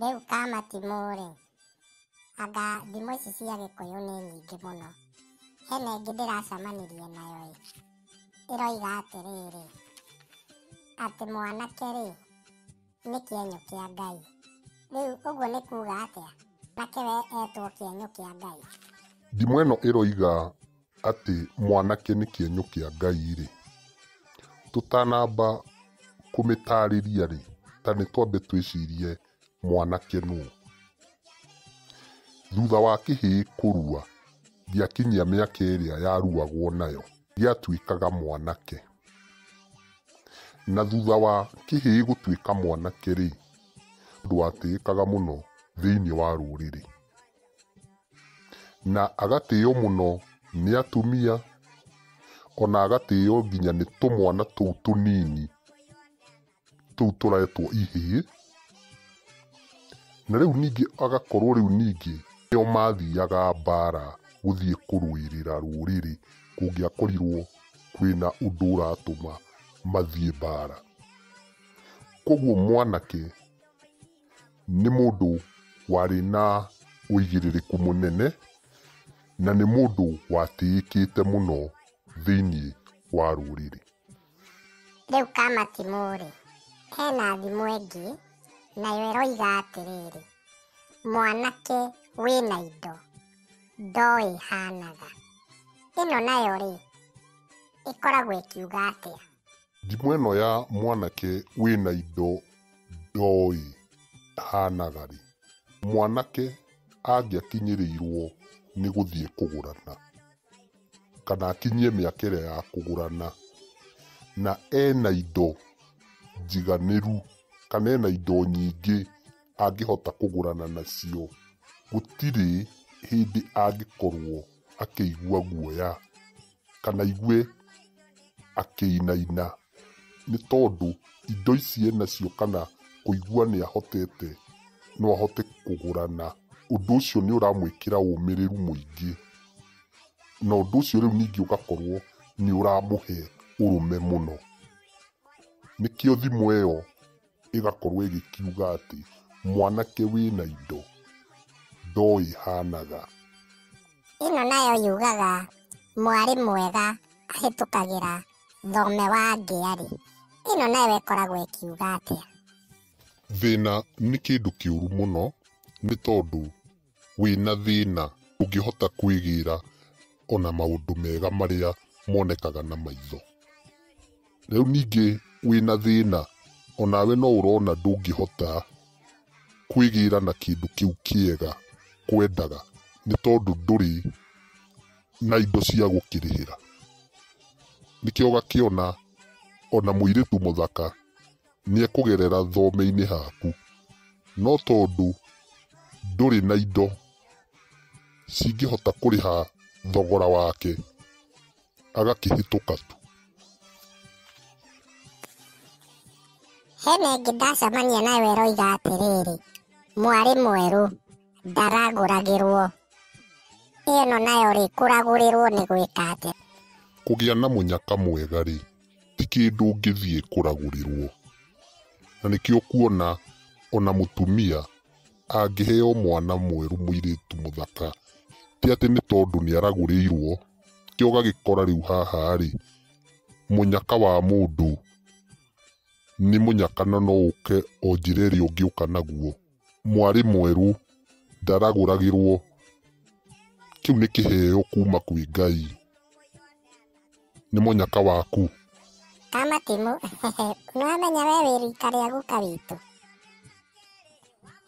Rĩu kamatimũ rĩ, anga thimũ ici cia gĩkũyũ nĩ nyingĩ mũno. Hena ĩngĩ ndĩracamanirie nayo ĩ, ĩroiga atĩrĩrĩ, atĩ mwanake rĩ, nĩ kĩenyũ kĩa Ngai. Rĩu ũguo nĩ kuga atĩa? Nake we etwo kĩenyũ kĩa Ngai? Ndimũ ĩno ĩroiga atĩ mwanake nĩ kĩenyũ kĩa Ngai-rĩ, tũtanamba kũmĩtarĩria-rĩ, ta nĩ twambe twĩcirie mwanake nũ? Thutha wa kĩhĩĩ kũrua, gĩakinyia mĩaka ĩrĩa yaruagwo nayo, gĩatuĩkaga mwanake. Na thutha wa kĩhĩĩ gũtuĩka mwanake-rĩ, ndwatĩĩkaga mũno thĩiniĩ wa rũrĩrĩ. na agatĩo mũno nĩ atumia, ona agatĩo nginya nĩ tũmwana tũu tũnini tũu tũretwo ihĩĩ, na rĩu ningĩ agakorwo rĩu ningĩ nĩo mathiaga mbara gũthiĩ kũrũĩrĩra rũrĩrĩ kũngĩakorirwo kwĩna ũndũ ũratũma mathiĩ mbara. Kuoguo mwanake nĩ mũndũ warĩ na ũigĩrĩrĩku mũnene na nĩ mũndũ watĩĩkĩte mũno thĩinĩ wa rũrĩrĩ. Rĩu Kamatimũ-rĩ, hena thimo ĩngĩ nayo ĩroiga atĩrĩrĩ, mwanake wĩna indo ndoĩ hanaga. Ĩno nayo-rĩ, ĩkoragwo ĩkiuga atĩa? Ndimũ ĩno ya mwanake wĩna indo ndoĩ hanaga rĩ? Mwanake angĩakinyĩrĩirwo nĩ gũthiĩ kũgũrana kana akinyie mĩaka ĩrĩa ya kũgũrana na ena indo njiganĩru kana ena indo nyingĩ angĩhota kũgũrana nacio, gũtirĩ hĩndĩ angĩkorwo akĩigua guoya. kana aigue akĩinaina nĩ tondũ indo ici enacio kana kũigua nĩ ahotete no ahote kũgũra na ũndũ ũcio nĩ ũramwĩkĩra ũmĩrĩru mũingĩ na ũndũ ũcio rĩu ningĩ ũgakorwo nĩ ũramũhe ũrũme mũno. Nĩkĩo thimũ ĩyo ĩgakorwo ĩgĩkiuga atĩ, mwanake wĩna indo ndoĩ hanaga. Ĩno nayo yugaga, mwarĩ mwega ahĩtũkagĩra thome wa ngĩa-rĩ. Ĩno nayo ĩkoragwo ĩkiuga atĩa? Thĩna nĩ kĩndũ kĩũru mũno nĩ tondũ. Wĩna thĩna ndũngĩhota kwĩgĩra ona maũndũ mega marĩa monekaga na maitho. Rĩu ningĩ wĩna thĩna onawe no ũrona ndũngĩhota kwĩgĩra na kĩndũ kĩu kĩega kwendaga nĩ tondũ ndũrĩ na indo cia gũkĩrĩhĩra. Nĩkĩo ũgakĩona ona mũirĩtu mũthaka... nĩekũgerera thome-inĩ haku, no tondũ ndũrĩ na indo cingĩhota kũrĩha thogora wake, agakĩhĩtũka tu. Hena ĩngĩ ndacemania nayo ĩroiga atĩrĩrĩ, mwarĩ mwerũ ndaragũragĩrwo. Ĩno nayo-rĩ, kũragũrĩrwo nĩ gwĩka atĩa? Kũgĩa na mũnyaka mwega-rĩ. ti kĩndũ ũngĩthiĩ kũragũrĩrwo. Na nĩkĩo ũkuona ona mũtumia angĩheo mwana mwerũ mũirĩtu mũthaka, ti atĩ nĩ tondũ nĩ aragũrĩirwo, nĩkĩo ũgagĩkora rĩu haha rĩ, mũnyaka wa mũndũ nĩ mũnyaka na no ũke o njĩra ĩrĩa ũngĩũka naguo. Mwarĩ mwerũ ndaragũragĩrwo, kĩu nĩ kĩheo kuma kwĩ Ngai. nĩ mũnyaka waku. Kamatimũ, nĩwamenya we wĩ rika rĩa guka witũ.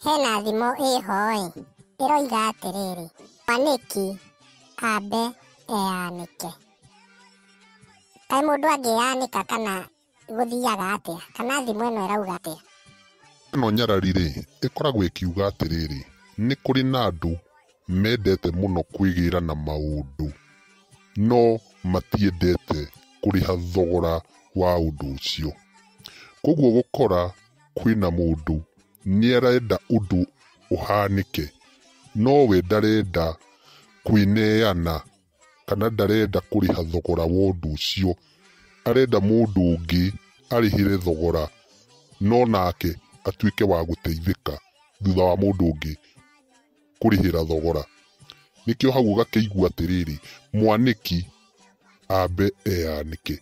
Hena thimo ĩho-ĩ, ĩroiga atĩrĩrĩ, mwanĩki ambe eyanĩke. Kaĩ mũndũ angĩyanĩka kana gũthiaga atĩa kana thimo ĩno ĩrauga atĩa. Ĩno nyarari-rĩ, ĩkoragwo ĩkiuga atĩrĩrĩ, Nĩ kũrĩ na andũ mendete mũno kwĩgĩĩra na maũndũ, no matiendete kũrĩha thogora wa ũndũ ũcio. Kwoguo ũgũkora kwĩna mũndũ nĩ arenda ũndũ ũhanĩke, no we ndarenda kwĩneana kana ndarenda kũrĩha thogora wa ũndũ ũcio. Arenda mũndũ ũngĩ arĩhĩre thogora no nake atuĩke wa gũteithĩka thutha wa mũndũ ũngĩ kũrĩhĩra thogora. Nĩkĩo hau ũgakĩigua atĩrĩrĩ, mwanĩki ambe eyanĩke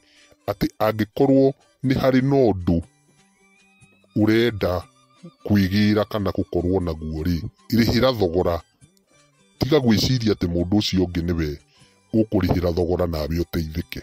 atĩ angĩkorwo nĩ harĩ na ũndũ... ũrenda kwĩgĩra kana gũkorwo naguo rĩ, rĩhĩra thogora. Tiga gwĩciria atĩ mũndũ ũcio ũngĩ nĩwe ũkũrĩhĩra thogora nawe ũteithĩke.